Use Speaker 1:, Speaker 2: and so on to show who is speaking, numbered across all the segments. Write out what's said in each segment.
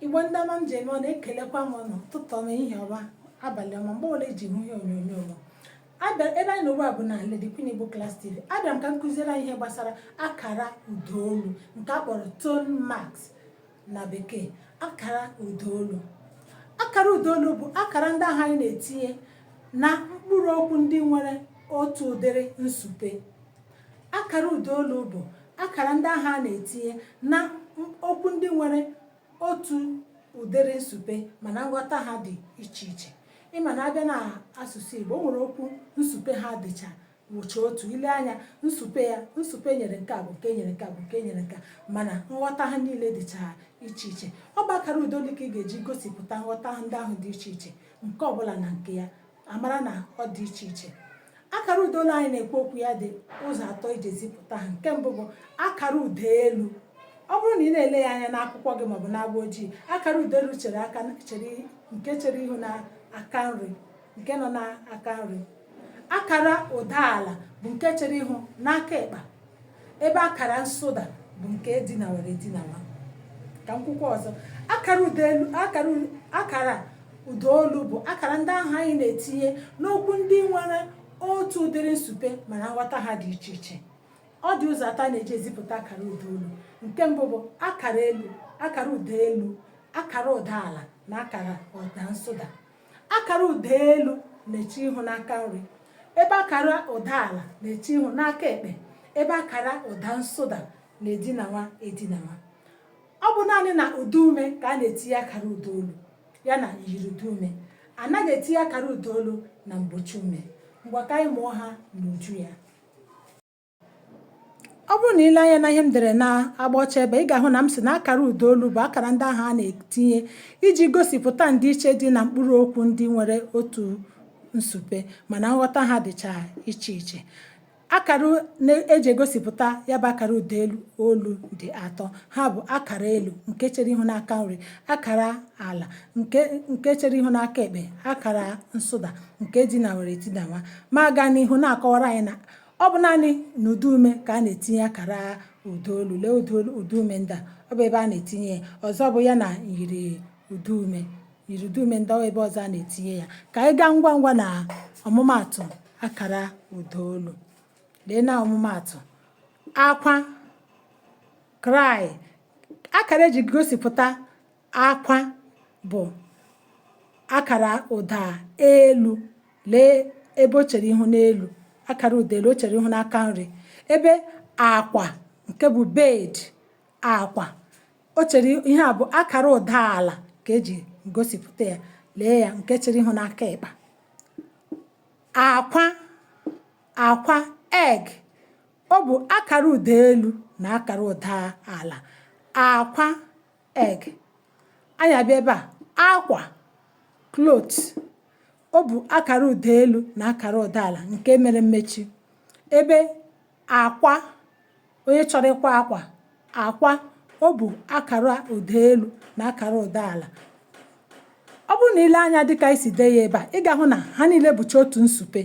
Speaker 1: igbo ndị ọma m ji eme ọnụ ekelekwa m ụnụ ụtụtụ ọma ehihie ọma abalị ọma mgbe ole i ji hụ ihe onyonyo m abịa ebe anyị nọ ugbu a bụ na Lady Queen Igbo Class TV abịara m ka m kụziere anyị ihe gbasara akara ụdaolu nke a kpọrọ tone marks na bekee akara ụdaolu akara ụdaolu bụ akara ndị ahụ anyị na-etinye na mkpụrụ okwu ndị nwere otu ụdịrị nsupe akara ụdaolu bụ akara ndị ahụ anyị na-etinye na m- okwu ndị nwere otu ụdịrị nsupe mana nghọta ha dị iche iche ịma na a bịa na asụsụ Igbo o nwere okwu nsupe ha dịcha wụcha otu i lee anya nsupe ya nsupe e nyere nke a bụ nke e nyere nke a bụ nke e nyere nke a mana nghọta ha niile dịcha iche iche ọ bụ akara ụda olu ka ị ga-eji gosipụta nghọta ndị ahụ dị iche iche nke ọbụla na nke ya a mara na ọ dị iche iche akara ụda olu anyị na-ekwu okwu ya dị ụzọ atọ e ji ezipụta ha nke mbụ bụ akara ụda elu ọ bụrụ na ị na-ele ya anya n'akwụkwọ gị maọbụ n'agba ojii akara ụda elu chere aka chere nke chere ihu na aka nri nke nọ n'aka nri akara ụda ala bụ nke chere ihu n'aka ịkpa ebe akara nsụda bụ nke dinawara edinawa ka m kwukwaa ọzọ akara ụda elu akara akara ụda olu bụ akara ndị ahụ anyị na-etinye n'okwu ndị nwere otu ụdịrị nsupe mana nghọta ha dị iche iche ọ dị ụzọ atọ a na-eji ezipụta akara ụda olu nke mbụ bụ akara elu akara ụda elu akara ụda ala na akara ụda nsụda akara ụda elu na-eche ihu n'aka nri ebe akara ụda ala na-eche ihu n'aka ekpe ebe akara ụda nsụda na-edinawa edinawa ọ bụ naanị na ụda ume ka a na-etinye akara ụda olu ya na myiri ụda ume a naghị etinye akara ụda olu na mgbochi ume ngwa ka anyị mụọ ha n'uju ya ọ bụrụ na i lee anya na ihe m dere na agba ọcha ebe ị ga-ahụ na m sị na akara ụda olu bụ akara ndị ahụ a na-etinye iji gosipụta ndịiche dị na mkpụrụ okwu ndị nwere otu nsupe mana nghọta ha dịcha iche iche akara a na-eji egosipụta ya bụ akara ụda elu olu dị atọ ha bụ akara elu nke chere ihu n'aka nri akara ala nke nke chere ihu n'aka ekpe akara nsụda nke dinawara edinawa ma gaa n'ihu na-akọwara anyị na ọ bụ naanị na ụda ume ka a na-etinye akara ụda olu lee ụda ụda ume ndị a ọ bụ ebe a na-etinye ya ọzọ bụ ya na myiri ụda ume myiri ụda ume ndị a ọ bụ ebe ọzọ a na-etinye ya ka anyị gaa ngwa ngwa na ọmụmaatụ akara ụda olu lee na ọmụmaatụ akwa cry akara e ji gosipụta Akwa bụ akara ụda elu lee ebe o chere ihu n'elu akara ụda elu o chere ihu n'aka nri ebe akwa nke bụ bed akwa o chere ihe a bụ akara ụda ala ka eji gosipụta ya lee ya nke chere ihu n'aka ịkpa akwa akwa egg ọ bụ akara ụda elu na akara ụda ala akwa egg anyị abịa ebe a akwa cloth o bu akara ụda elu na akara ụda ala nke mere mmechi ebe akwa onye chọrọ ịkwa akwa akwa o bu akara ụda elu na akara ụda ala ọ bụrụ na i lee anya dịka esi dee ya ebe a ị ga-ahụ na ha niile bụcha otu nsụpe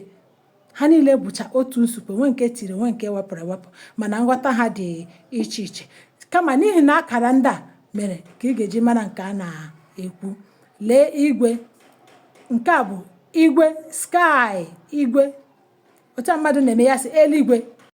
Speaker 1: ha niile bụcha otu nsụpe nwe nke tiri nwe nke wepụrụ ewepụ mana nghọta ha dị iche iche kama n'ihi na akara ndị a mere ka ị ga-eji mara nke a na-ekwu lee igwe nke a bụ igwe sky igwe otu mmadụ na-eme ya sị eluigwe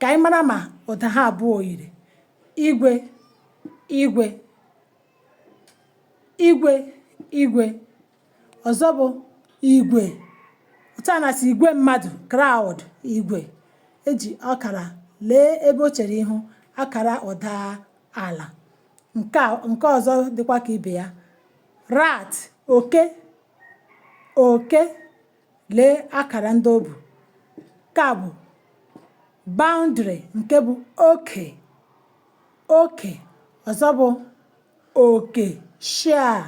Speaker 1: Ka anyị mara ma ụda ha abụọ yiri igwe igwe igwe igwe ọzọ bụ igwe otu a na-asị igwe mmadụ crowd igwe eji akara lee ebe o chere ihu akara ụda ala nke a nke ọzọ dịkwa ka ibe ya rat oke oke Lee akara ndị o bu. Nke a bụ boundary nke bụ oke oke ọzọ bụ oke share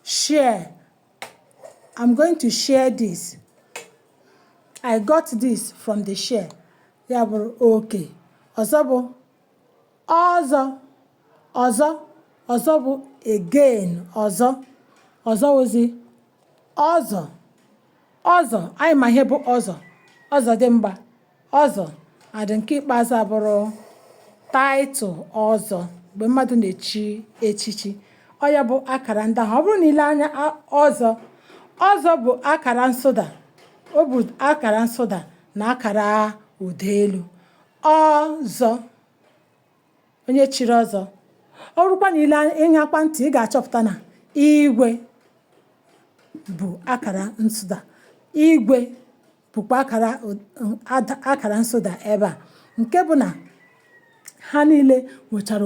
Speaker 1: share I'm going to share this I got this from the share ya bụrụ oke ọzọ bụ Ọzọ, ọzọ, ọzọ bụ again, ọzọ, ọzọ wụzị ọzọ, ọzọ, anyị ma ihe bụ ọzọ, ọzọ dimgba, ọzọ, adị nke ikpeazụ abụrụ title ọzọ mgbe mmadụ na-echi echichi ọ ya bụ akara ndị ahụ ọ bụrụ na i lee anya ọzọ ọzọ bụ akara nsụda ọ bụ akara nsụda na akara ụda elu ọzọ onye chiri ọzọ ọ bụrụkwa na i le ị ṅakwa ntị ị ga-achọpụta na igwe bụ akara nsụda igwe bụkwa akara ada- akara nsụda ebe a nke bụ na ha niile nwechara